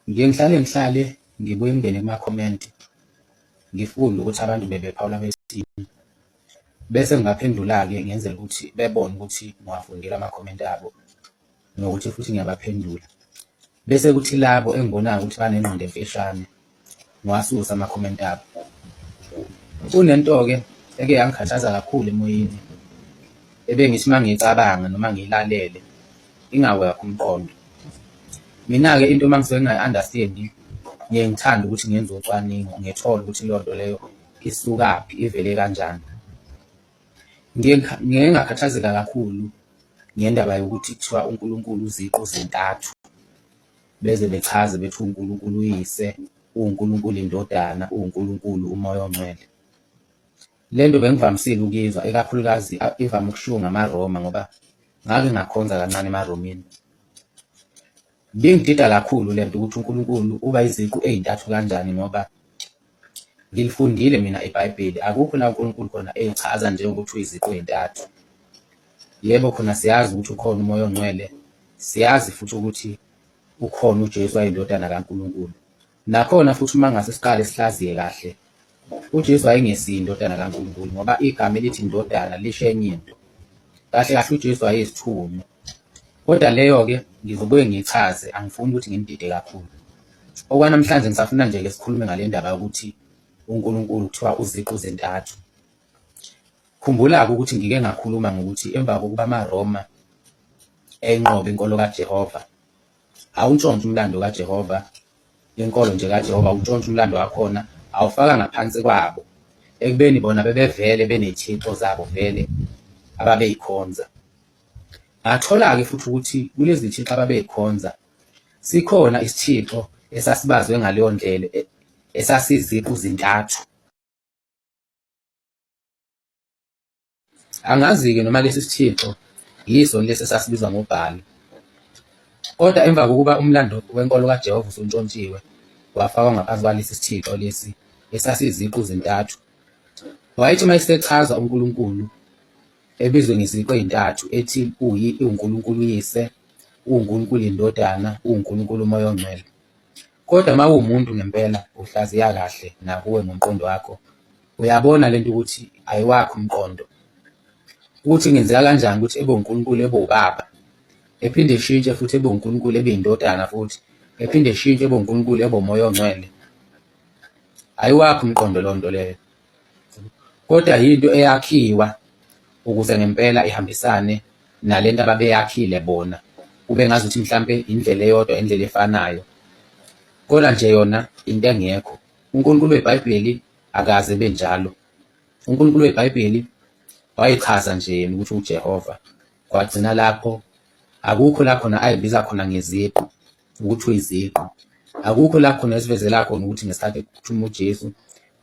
Ngiye ngihlale ngihlale ngibuye ngingene kuma-comment ngifunde ukuthi abantu bebephawula besithini, bese ngingaphendula-ke ngenzela ukuthi bebone ukuthi ngiwafundile ama-comment abo nokuthi futhi ngiyabaphendula. Bese kuthi labo engibonayo ukuthi banengqondo emfishane. ngiwasusa ama-comment abo. Kunento-ke eke yangikhathaza kakhulu emoyeni, ebengithi uma ngiyicabanga noma ngiyilalele ingawe wakho umqondo. Mina-ke into uma ngisuke ngingayi-understand-i ngiye ngithande ukuthi ngenze ucwaningo ngithole ukuthi leyo nto leyo isukaphi, ivele kanjani. Ngiye ngiye ngakhathazeka kakhulu ngendaba yokuthi kuthiwa uNkulunkulu uziqu zintathu. beze bechaze bethi uNkulunkulu uyise, uwuNkulunkulu indodana, uwuNkulunkulu umoya ongcwele. Le nto bengivamisile ukuyizwa, ikakhulukazi ivame ukushiwo ngamaRoma ngoba ngake ngakhonza kancane emaRomini. Bingidida kakhulu le nto ukuthi uNkulunkulu uba iziqu ey'ntathu kanjani ngoba Ngilifundile mina ibhayibheli akukho la uNkulunkulu khona eyichaza nje ukuthi uyiziqu ey'ntathu. Yebo khona siyazi ukuthi ukhona umoya ongcwele, siyazi futhi ukuthi ukhona uJesu wayindodana kaNkulunkulu. Nakhona futhi uma ngase siqale sihlaziye kahle, uJesu wayengesiye indodana kaNkulunkulu ngoba igama elithi indodana lisho enye into. Kahle kahle uJesu wayeyisithunywa. Kodwa leyo-ke ngizobuye ngiyichaze, angifuni ukuthi ngimdide kakhulu. Okwanamhlanje ngisafuna nje ke sikhulume ngale ndaba yokuthi uNkulunkulu kuthiwa uziqu zintathu. Khumbula-ke ukuthi ngike ngakhuluma ngokuthi emva kokuba amaRoma enqobe inkolo kaJehova, awuntshontshe umlando kaJehova, inkolo nje kaJehova, awuntshontshe umlando wakhona, awufaka ngaphansi kwabo ekubeni bona bebevele benethixo zabo vele ababeyikhonza. Bathola-ke futhi ukuthi kulezi zithixo ababezikhonza sikhona isithixo esasibazwe ngaleyo ndlela e, esasiziqu-zintathu. Angazi-ke noma lesi sithixo yiso lesi esasibizwa ngoBhali. Kodwa emva kokuba umlando wenkolo kaJehova usuntshontshiwe wafakwa ngaphansi kwalesi sithixo lesi esasiziqu-zintathu, wayethi uma esechaza uNkulunkulu Ebizwe ngeziqu ezintathu ethi uyi, iwuNkulunkulu uYise, uwuNkulunkulu iNdodana, uwuNkulunkulu uMoya oNgcwele. Kodwa uma uwumuntu ngempela uhlaziya kahle nakuwe ngomqondo wakho, uyabona lento ukuthi ayiwakho umqondo. Ukuthi ngenzeka kanjani ukuthi ebe uNkulunkulu ebe ubaba, ephinde eshintshe futhi ebe uNkulunkulu ebe indodana futhi, ephinde eshintshe ebe uNkulunkulu ebe uMoya oNgcwele. Ayiwakho umqondo lonto leyo. Kodwa yinto eyakhiwa ukuze ngempela ihambisane nale nto ababeyakhile bona, kube ngazuthi mhlampe indlela eyodwa indlela efanayo, kodwa nje yona into engekho. UNkulunkulu weBhayibheli akaze ebe njalo. UNkulunkulu weBhayibheli wayichaza nje yena ukuthi uJehova, kwagcina lapho. Akukho la khona ayibiza khona ngeziqu, ukuthi uyiziqu. Akukho la khona esivezela khona ukuthi ngesikhathi ekuphuthuma uJesu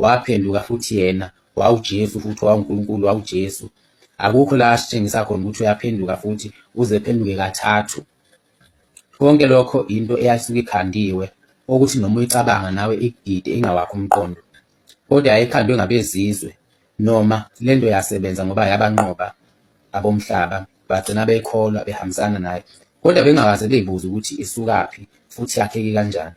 waphenduka futhi yena wawuJesu futhi wawuNkulunkulu wawuJesu. Akukho la asitshengisa khona ukuthi uyaphenduka futhi uze phenduke kathathu. Konke lokho into eyasuke ikhandiwe okuthi noma uyicabanga nawe ikudide ingawakho umqondo. Kodwa yayikhandwe ngabezizwe. Noma, lento yasebenza ngoba yabanqoba abomhlaba bagcina beyikholwa behambisana nayo, kodwa bengakaze beybuze ukuthi isukaphi futhi yakheke kanjani.